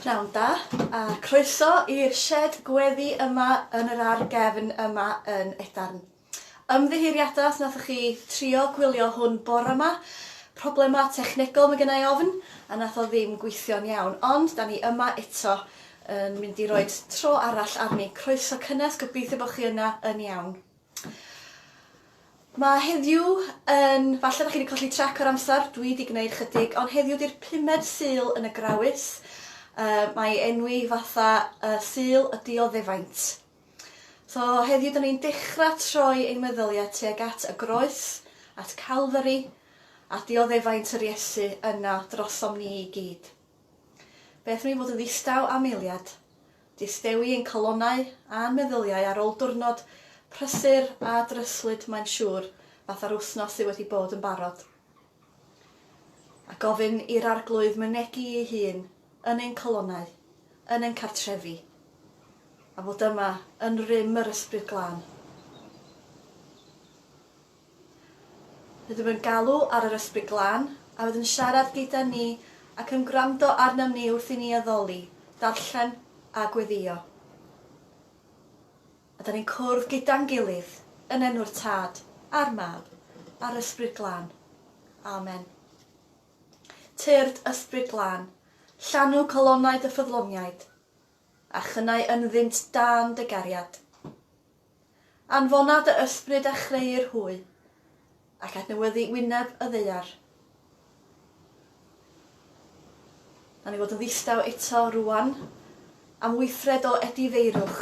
Pnawn da, a croeso i'r sied gweddi yma yn yr ar gefn yma yn Edarn. Ymddiheuriada os nathoch chi trio gwylio hwn bore ma, problema technegol mae gennau ofn, a nath o ddim gweithio'n iawn, ond da ni yma eto yn mynd i roed tro arall arni. Croeso cynnes, gobeithio bod chi yna yn iawn. Mae heddiw yn... Falle bod chi wedi colli trac o'r amser, dwi wedi gwneud chydig, ond heddiw di'r pumed Sul yn y Grawys. Uh, mae enwi fatha uh, Sul y Dioddefaint. So heddiw dyn ni'n dechrau troi ein meddyliau tuag at y groes, at Calfari, a dioddefaint yr Iesu yna drosom ni i gyd. Beth mi fod yn ddistaw am eiliad, Distewi ein calonnau a'n meddyliau ar ôl diwrnod prysur a dryslyd mae'n siŵr, fatha'r wythnos sy wedi bod yn barod. A gofyn i'r Arglwydd mynegi ei hun yn ein calonnau, yn ein cartrefi, a fod yma yn rym yr Ysbryd Glân. Rydym yn galw ar yr Ysbryd Glân, a fydd yn siarad gyda ni ac yn gwrando arnom ni wrth i ni addoli, darllen a gweddïo. A da ni'n cwrdd gyda'n gilydd, yn enw'r Tad, a'r Mab, a'r Ysbryd Glân. Amen. Tyrd, Ysbryd Glân, llanw calonnau dy ffyddloniaid, a chynnau ynddynt dân dy gariad. Anfona dy ysbryd a chreu'r hwy, ac adnewyddu wyneb y ddaear. Nawn ni fod yn ddistaw eto rŵan am weithred o edifeirwch,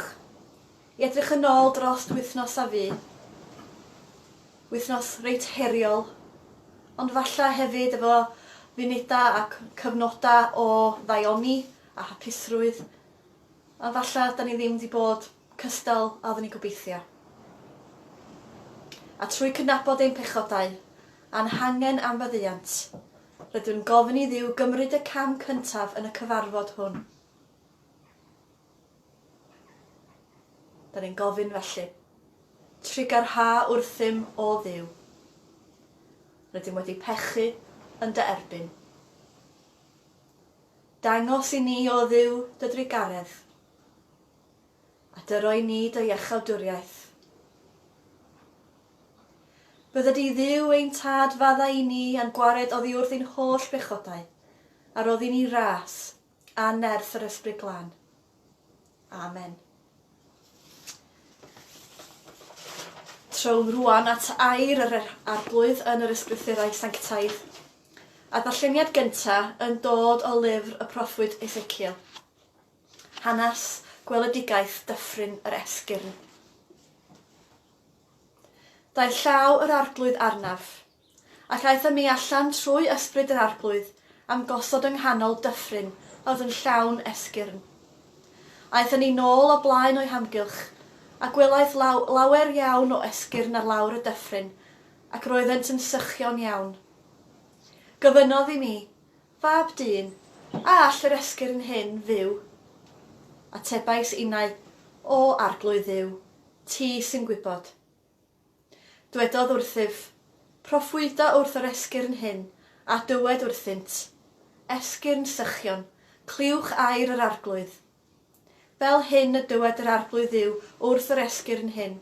i edrych yn ôl drost wythnos a fu. Wythnos reit heriol, ond falla hefyd efo funudau ac cyfnodau o ddaioni a hapusrwydd Ond falla da ni ddim di bod cystal a odda ni'n gobeithio. A trwy cydnabod ein pechodau, a'n hangen am faddeuant, rydw yn gofyn i Dduw gymryd y cam cyntaf yn y cyfarfod hwn. Da ni'n gofyn felly. Trigar ha wrthym, o Dduw. Rydym wedi pechu yn dy erbyn. Dangos i ni, O Dduw, dy drugaredd, a dyro i ni dy iachawdwriaeth. Bydda di, Dduw, ein Tad, fadda i ni a'n gwared oddi wrth ein holl bechodau, a roddi ni ras, a nerth yr Ysbryd Glân. Amen. Trown rwan at air yr er- arglwydd yn yr ysgrythurau sanctaidd. A ddarlleniad gynta yn dod o lyfr y proffwyd Ezekiel. Hanes gweledigaeth dyffryn yr esgyrn. Daeth llaw yr arglwydd arnaf, Ac aeth â mi allan trwy ysbryd yr Arglwydd a'm gosod yng nghanol dyffryn a oedd yn llawn esgyrn. Aethon ni nôl o blaen o'i hamgylch, a gwelais law- lawer iawn o esgyrn ar lawr y dyffryn, ac roeddent yn sychion iawn. Gofynnodd i mi, Fab dyn, a all yr esgyrn hyn fyw? Atebais innau, O Arglwydd Dduw, ti sy'n gwybod. Dwedodd wrthyf, Proffwyda wrth yr esgyrn hyn, a dywed wrthynt, Esgyrn Sychion, clywch air yr Arglwydd. Fel hyn y dywed yr Arglwydd Dduw wrth yr esgyrn hyn,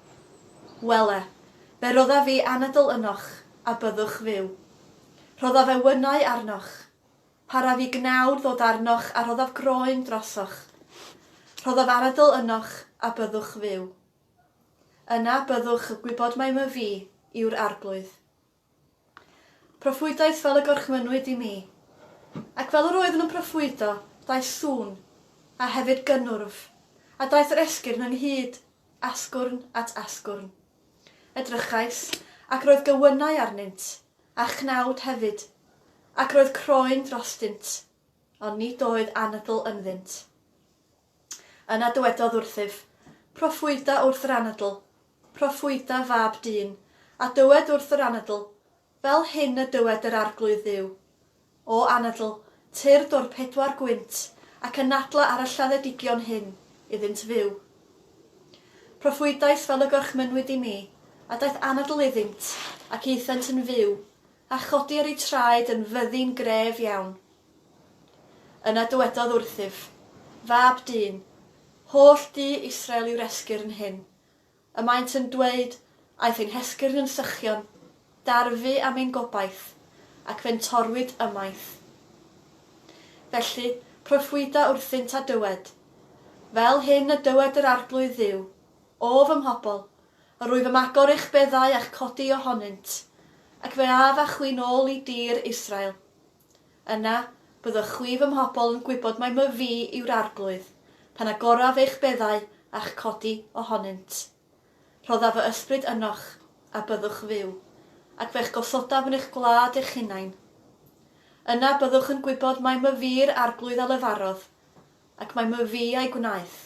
Wele, fe rodda fi anadl ynoch, a byddwch fyw. Rhodda fe wynau arnoch. Para fi gnawd ddod arnoch a rhoddaf groen drosoch. Rhoddaf anadl ynoch, a byddwch fyw. Yna byddwch y gwybod mai my fi yw'r Arglwydd. Proffwydais fel y gorchmynnwyd i mi. Ac fel yr oeddwn yn proffwydo, daeth sŵn, a hefyd gynnwrf, a daeth yr esgyrn ynghyd, asgwrn at asgwrn. Edrychais, ac roedd gywynnau arnynt, a chnawd hefyd, ac roedd croen drostynt, ond nid oedd anadl ynddynt. Yna dywedodd wrthyf, Proffwyda wrth yr anadl, proffwyda, fab dyn, a dywed wrth yr anadl, Fel hyn y dywed yr Arglwydd Dduw, O anadl, tyrd o'r pedwar gwynt, ac anadla ar y lladdedigion hyn, iddynt fyw. Proffwydais fel y gorchmynnwyd i mi, a daeth anadl iddynt, ac aethant yn fyw, a chodir eu traed yn fyddin gref iawn. Yna dywedodd wrthyf, Fab dyn, holl du Israel yw'r esgyrn hyn. Y maent yn dweud, Aeth ein hesgyrn yn sychion, darfu am ein gobaith, ac fe'n torwyd ymaith. Felly, proffwyda wrthynt a dywed, Fel hyn y dywed yr Arglwydd Dduw, O fy mhobl, yr wyf am agor eich beddau a'ch codi ohonynt, ac fe af â chwi'n ôl i dir Israel. Yna, byddwch chwi fy mhobl yn gwybod mai my Fi yw'r Arglwydd, pan agoraf eich beddau a'ch codi ohonynt. Rhoddaf fy Ysbryd ynoch, a byddwch fyw, ac fe'ch gosodaf yn eich gwlad eich hunain. Yna byddwch yn gwybod mai my Fi'r Arglwydd a lefarodd, ac mai my Fi a'i gwnaeth,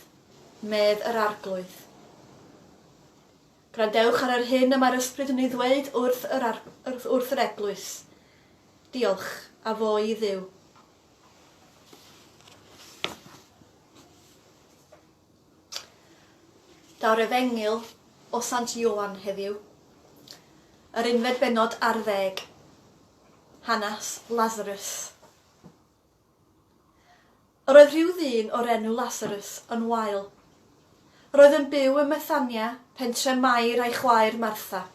medd yr Arglwydd. Gwrandewch ar yr hyn y mae'r Ysbryd yn ei ddweud wrth yr ar-, wrth, wrth yr Eglwys. Diolch, a fo i Dduw. Daw'r Efengyl o Sant Ioan heddiw. Yr unfed bennod ar ddeg. Hanas Lazarus. Yr oedd rhyw ddyn o'r enw Lasarus yn wael. Yr oedd yn byw ym Methania, pentre Mair a'i chwaer Martha.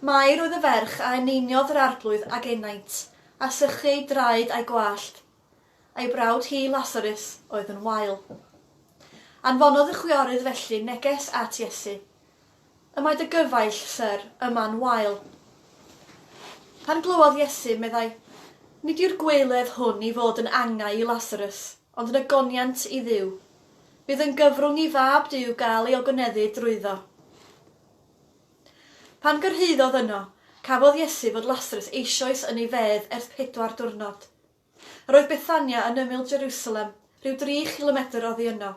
Mair oedd y ferch a eneiniodd yr arglwydd ag enaint, a sychu ei draed a'i gwallt. Ei brawd hi, Lasarus, oedd yn wael. Anfonodd y chwiorydd felly neges at Iesu, Y mae dy gyfaill, Syr, yma'n wael. Pan glywodd Iesu, meddai, Nid yw'r gweiledd hwn i fod yn angau i Lasarus, ond yn ogoniant i Dduw. Bydd yn gyfrwng i Fab Duw gael ei ogoneddu drwyddo. Pan gyrhaeddodd yno, cafodd Iesu fod Lasarus eisoes yn ei fedd ers pedwar diwrnod. Roedd Bethania yn ymyl Jerusalem, rhyw dri chilomedr oddi yno.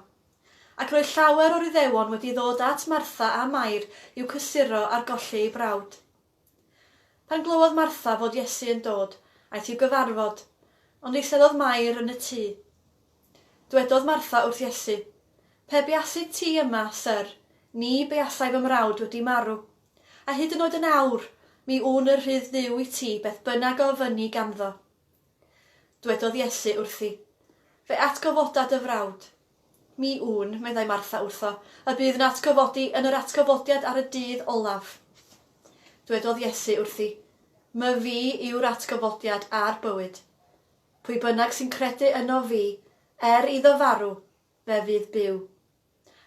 Ac roedd llawer o'r Iddewon wedi ddod at Martha a Mair i'w cysuro ar golli ei brawd. Pan glywodd Martha fod Iesu yn dod, aeth i'w gyfarfod, ond eiseddodd Mair yn y tŷ. Dwedodd Martha wrth Iesu, Pe buasid ti yma, Syr, ni buasai fy mrawd wedi marw. A hyd yn oed yn awr, mi wn y rhydd Dduw i ti beth bynnag a ofynni ganddo. Dwedodd Iesu wrthi, Fe atgyfoda dy frawd. Mi wn, meddai Martha wrtho, y bydd yn atgyfodi yn yr atgyfodiad ar y dydd olaf. Dwedodd Iesu wrthi, My fi yw'r atgyfodiad a'r bywyd. Pwy bynnag sy'n credu ynof fi, er iddo farw, fe fydd byw.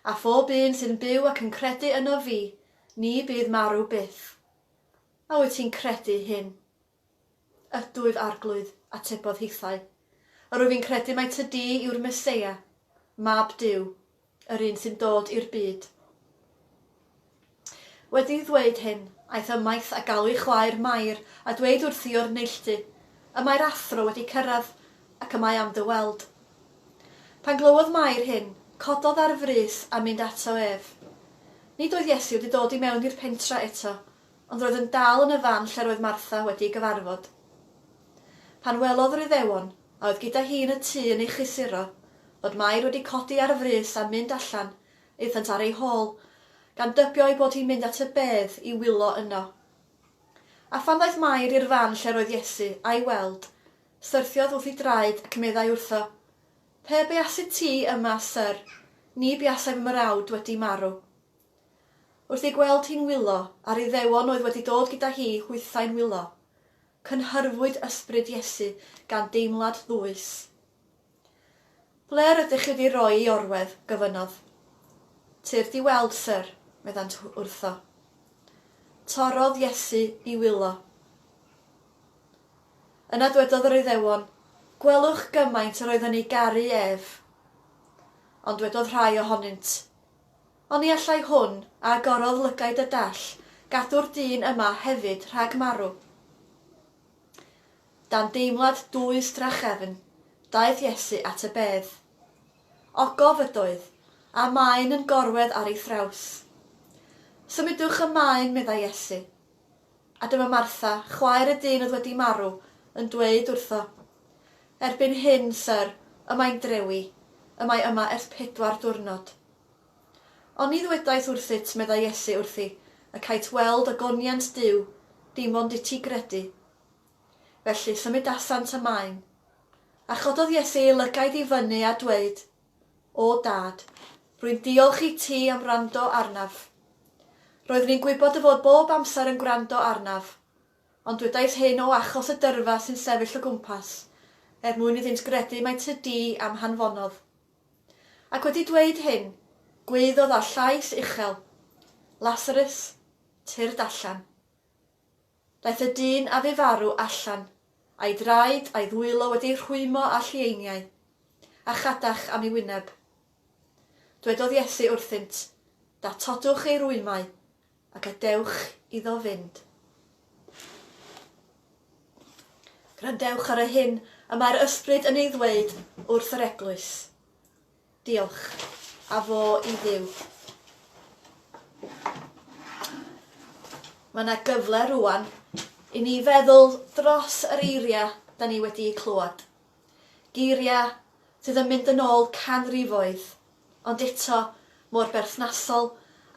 A phob un sy'n byw ac yn credu ynof fi, ni bydd marw byth. A wyt ti'n credu hyn? Ydw, ef Arglwydd, atebodd hithau. A rwyf i'n credu mai ty di yw'r Meseia, Mab Duw, yr un sy'n dod i'r byd. Wedi ddweud hyn, aeth ymaith a galw ei chwaer Mair a dweud wrthi o'r neilltu, Y mae'r Athro wedi cyrraedd, ac y mae am dy weld. Pan glywodd Mair hyn, cododd ar frys a mynd ato ef. Nid oedd Iesu wedi dod i mewn i'r pentra eto, ond roedd yn dal yn y fan lle roedd Martha wedi ei gyfarfod. Pan welodd yr Iddewon, a oedd gyda hi yn y tŷ yn ei chlysuro, fod Mair wedi codi ar frys a mynd allan, aethant ar ei hôl, gan dybio ei bod hi'n mynd at y bedd i wylo yno. A phan ddaeth Mair i'r fan lle roedd Iesu, a'i weld, syrthiodd wrth ei draed ac meddai wrtho, Pe beasit ti yma, Syr, ni buasai fy mrawd wedi marw. Wrth ei gweld hi'n wylo, a'r Iddewon oedd wedi dod gyda hi hwythau'n wylo, cynhyrfwyd ysbryd Iesu gan deimlad ddwys. Ble rydych chi wedi roi i orwedd? gofynnodd. Tyrd i weld, syr, meddant wrtho. Torrodd Iesu i wylo. Yna dwedodd yr Iddewon, Gwelwch gymaint yr oedd yn ei garu ef. Ond dwedodd rhai ohonynt, Oni allai hwn agorodd lygaid y dall gadw'r dyn yma hefyd rhag marw? Dan deimlad dwys drachefn, daeth Iesu at y bedd. Ogof ydoedd, a maen yn gorwedd ar ei thraws. Symudwch y maen, meddai Iesu. A dyma Martha, chwaer y dyn oedd wedi marw, yn dweud wrtho, Erbyn hyn, Syr, y mae'n drewi, y mae yma ers pedwar diwrnod. Ond ni ddwedaist wrthyt, meddai Iesu wrthi, y cait weld y goniant Duw, dim ond i ti gredu. Felly, symudasant y maen. A chododd Iesu ei lygaid i fyny a dweud, O Dad, rwy'n diolch i ti am wrando arnaf. Roeddwn i'n gwybod dy fod bob amser yn gwrando arnaf, ond dwedais hyn o achos y dyrfa sy'n sefyll o gwmpas, er mwyn iddynt gredu mai tŷ du a'm hanfonodd. Ac wedi dweud hyn, gwaeddodd â llais uchel, Lasarus, tyrd allan. Daeth y dyn a fu farw allan, a'i draed a'i ddwylo wedi ei rhwymo â llieiniau, a chadach am ei wyneb. Dwedodd Iesu wrthynt, Datodwch ei rwymau, a gadewch iddo fynd. Gwrandewch ar y hyn y mae'r Ysbryd yn ei ddweud wrth yr Eglwys. Diolch. A fo i Dduw. Mae 'na gyfle rŵan i ni feddwl dros yr eiriau 'da ni wedi'u clywed. Geiriau sydd yn mynd yn ôl canrifoedd, ond eto mor berthnasol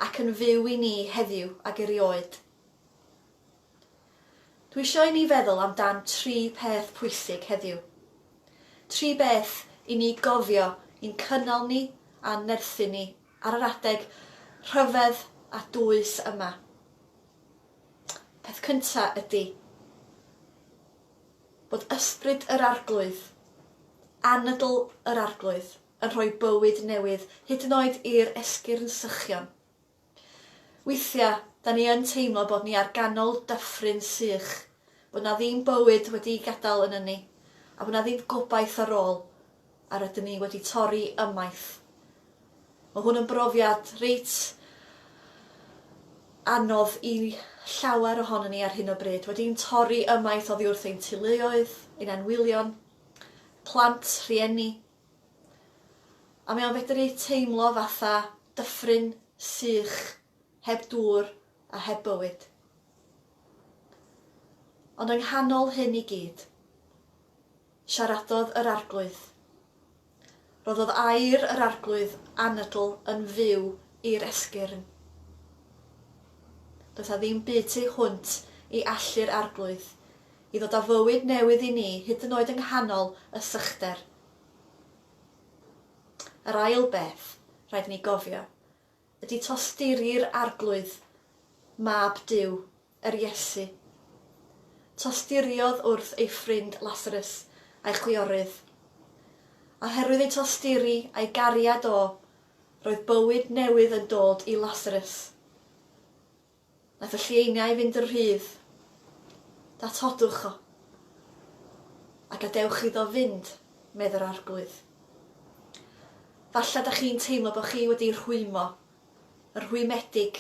ac yn fyw i ni heddiw ag erioed. Dwi isio i ni feddwl am dan tri peth pwysig heddiw. Tri beth i ni gofio i'n cynnal ni a'n nerthu ni ar yr adeg rhyfedd a dwys yma. Peth cynta ydi bod ysbryd yr Arglwydd, anadl yr Arglwydd, yn rhoi bywyd newydd, hyd yn oed i'r esgyrn sychion. Weithiau, 'da ni yn teimlo bod ni ar ganol dyffryn sych, bod 'na ddim bywyd wedi'i gadael yn ynni, a bod 'na ddim gobaith ar ôl, a rydyn ni wedi torri ymaith. Mae hwn yn brofiad reit anodd i llawer ohonon ni ar hyn o bryd. Wedi'n torri ymaith oddi wrth ein teuluoedd, ein anwylion, plant, rhieni, A mae o'n fedru teimlo fatha dyffryn sych heb dŵr a heb bywyd. Ond yng nghanol hyn i gyd, siaradodd yr Arglwydd. Rhoddodd air yr Arglwydd anadl yn fyw i'r esgyrn. Does 'na ddim byd tu hwnt i allu'r Arglwydd i ddod â bywyd newydd i ni hyd yn oed yng nghanol y sychder. Yr ail beth rhaid i ni gofio ydy tosturi'r Arglwydd, Mab Duw, yr Iesu. Tosturiodd wrth ei ffrind Lasarus a'i chwiorydd. A oherwydd ei tosturi a'i gariad o, roedd bywyd newydd yn dod i Lasarus. Nath y llieiniau fynd yn rhydd. Datodwch o. A gadewch iddo fynd, medd yr Arglwydd. Falle 'dach chi'n teimlo bo' chi wedi rhwymo, y rhwymedig,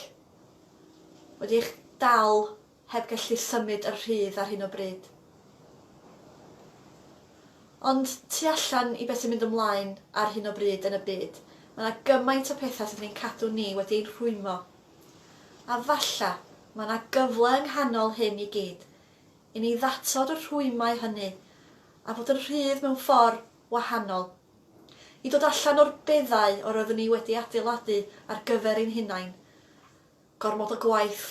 wedi eich dal heb gallu symud yn rhydd ar hyn o bryd. Ond tu allan i be' sy'n mynd ymlaen ar hyn o bryd yn y byd, ma' 'na gymaint o petha sydd yn ein cadw ni wedi ein rhwymo A falla, mae yna gyfle yng nghanol hyn i gyd, i ni ddatod y rhwymau hynny, a bod yn rhydd mewn ffordd wahanol. I dod allan o'r beddau yr oeddwn ni wedi adeiladu ar gyfer ein hunain. Gormod o gwaith.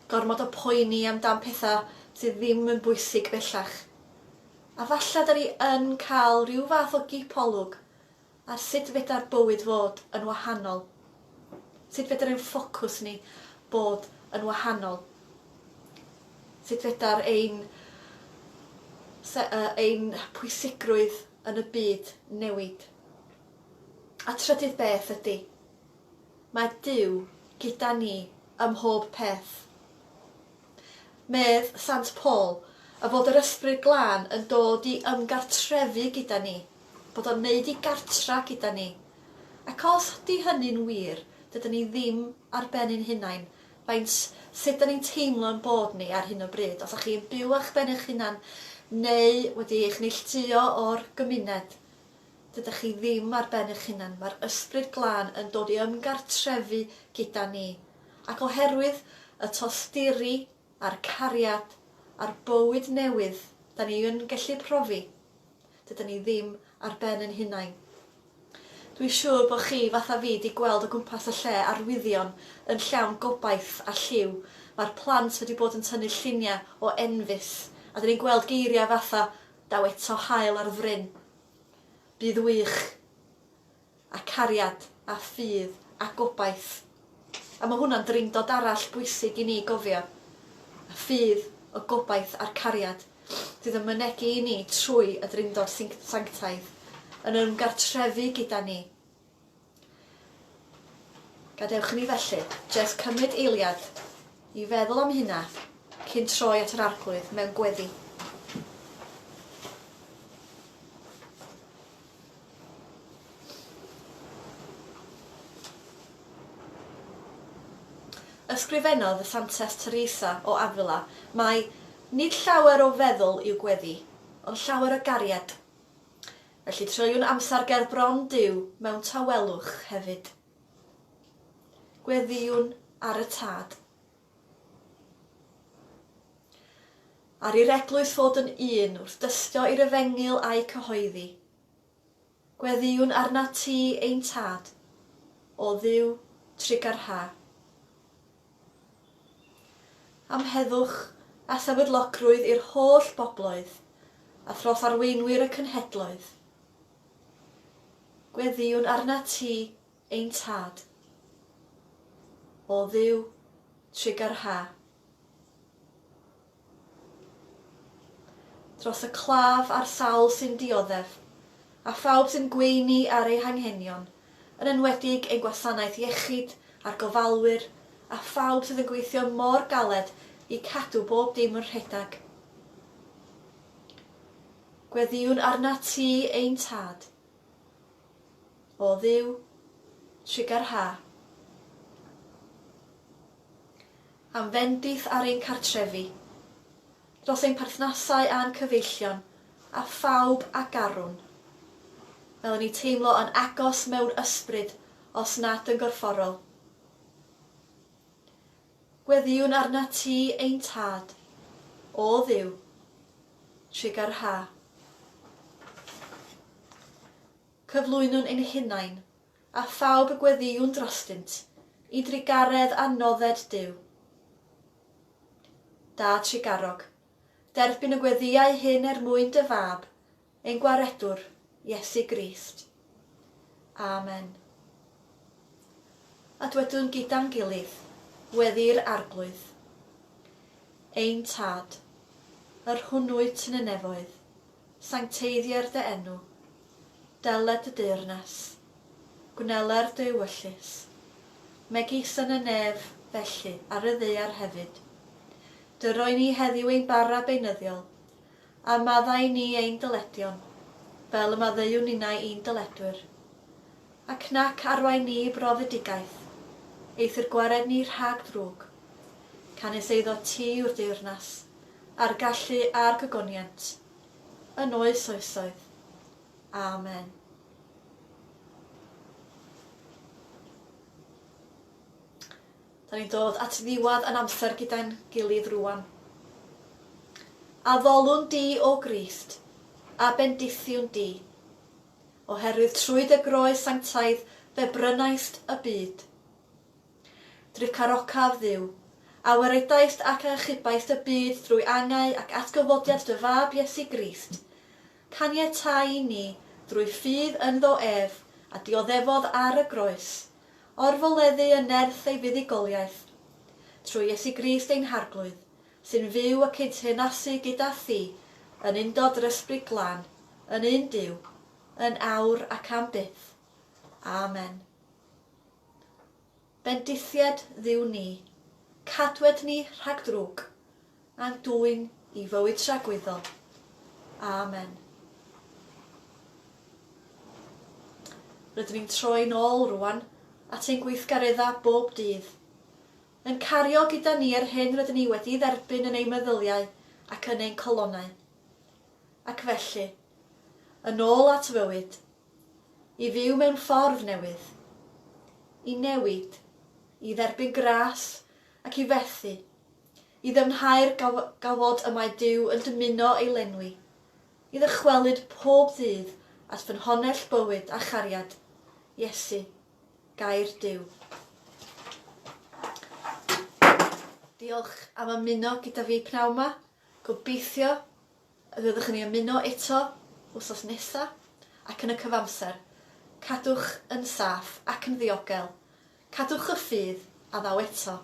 Gormod o poeni am dan pethau sydd ddim yn bwysig bellach. A falla 'da ni yn cael rhyw fath o gipolwg Ar sut fedra'r bywyd fod yn wahanol? Sut fedr ein ffocws ni bod yn wahanol? Sut fedar ein se- yy ein pwysigrwydd yn y byd newid? A trydydd beth ydy, mae Duw gyda ni ym mhob peth. Medd Sant Paul, y bod yr Ysbryd Glân yn dod i ymgartrefu gyda ni, bod o'n wneud i gartra gyda ni. Ac os ydy hynny'n wir, dydan ni ddim ar ben ein hunain, faint, sut 'dan ni'n teimlo'n bod ni ar hyn o bryd, os 'dach chi yn byw a'ch ben eich hunan, neu wedi eich neilltuo o'r gymuned, dydych chi ddim ar ben eich hunan, mae'r Ysbryd Glân yn dod i ymgartrefu gyda ni. Ac oherwydd y tosturi a'r cariad a'r bywyd newydd 'da ni yn gellu profi, dydan ni ddim ar ben yn hunain. Dwi siŵr bo chi fatha fi 'di gweld o gwmpas y lle arwyddion yn llawn gobaith a lliw, ma'r plant wedi bod yn tynnu llunia o enfys a 'da ni'n gweld geiria fatha, daw eto haul ar fryn. Bydd wych. a cariad, a ffydd, a gobaith. A mae hwnna'n Drindod arall bwysig i ni gofio. Y ffydd, y gobaith a'r cariad sydd yn mynegi i ni trwy y Drindod Sanctaidd yn ymgartrefu gyda ni. Gadewch i ni felly jest cymryd eiliad i feddwl am hynna cyn troi at yr Arglwydd mewn gweddi. Ysgrifennodd y Santes Teresa o Avila mai Nid llawer o feddwl yw gweddi, ond llawer o gariad. Felly treuwn amser ger bron Duw mewn tawelwch hefyd. Gweddïwn ar y Tad. Ar i'r eglwys fod yn un wrth dystio i'r efengyl a'i cyhoeddi. Gweddïwn arnat ti, ein Tad, o Dduw trugarha. Am heddwch a sefydlogrwydd i'r holl bobloedd, a thros arweinwyr y cynhedloedd. Gweddïwn arnat ti, Ein Tad, O Dduw trigger ha. Dros y claf a'r sawl sy'n dioddef, a phawb sy'n gweini ar eu hanghenion, yn enwedig ein gwasanaeth iechyd a'r gofalwyr a phawb sydd yn gweithio mor galed i cadw bob dim yn rhedeg. Gweddïwn arnat ti, ein Tad. O Dduw, trigger ha. Am fendith ar ein cartrefi, dros ein perthnasau a'n cyfeillion, a phawb a garwn. Fel yn ni teimlo yn agos mewn ysbryd os nad yn gorfforol. Gweddïwn arnat ti, ein Tad, O Dduw, trwy ger yr ha. Cyflwynwn ein hunain, a phawb y gweddïwn drostynt, I drugaredd a nodded Duw. Dad trugarog, derbyn y gweddïau hyn Er mwyn dy Fab, Ein Gwaredwr, Iesu Grist. Amen. A dwedwn gyda'n gilydd, Wedi'r Arglwydd. Ein Tad, yr hwn wyt yn y nefoedd, sancteiddier dy enw. Dele dy deyrnas. Gwneler dy ewyllys. Megis yn y nef, felly, ar y ddaear hefyd. Dyroi ni heddiw ein bara beunyddiol, A maddau ni ein dyledion, fel y maddeuwn ninnau i'n dyledwyr. Ac nac arwain ni i brofedigaeth, eithr gwared ni rhag drwg. Canys eiddo ti yw'r deyrnas, a'r gallu, a'r gogoniant, yn oes oesoedd. Amen. Da ni'n dod at ddiwadd yn amser gyda'n gilydd rŵan. Addolwn di, O Grist, a bendithiwn di, oherwydd trwy dy groes sanctaidd fe brynaist y byd. Dricarocaf, Dduw, a weredaist ac a achubaist y byd drwy angau ac atgyfodiad dy Fab Iesu Grist, caniatáu i ni, drwy ffydd ynddo ef a dioddefodd ar y groes, orfoleddu yn nerth ei fuddugoliaeth, trwy Iesu Grist ein Harglwydd, sy'n fyw y cydteyrnasu gyda Thi yn undod yr Ysbryd Glân, yn un Duw, yn awr ac am byth. Amen. Bendithied Dduw ni, cadwed ni rhag drwg, a'n dwyn i fywyd tragwyddol. Amen. Rydyn ni'n troi'n ôl rwan at ein gweithgareddau bob dydd, yn cario gyda ni yr hyn rydyn ni wedi'i dderbyn yn ein meddyliau ac yn ein colonnau. Ac felly, yn ôl at fywyd, i fyw mewn ffordd newydd, i newid, i dderbyn gras ac i fethu, i ddyfnhau'r gawod y mae Duw yn dymuno ei lenwi, i ddychwelyd pob ddydd at ffynhonnell bywyd a chariad, Iesu, Gair Duw. Diolch am ymuno gyda fi pnawn ma, gobeithio Fyddwch yn ei ymuno eto wsos nesa ac yn y cyfamser, cadwch yn saff ac yn ddiogel, cadwch y ffydd a ddaw eto,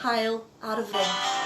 hael ar y fryn.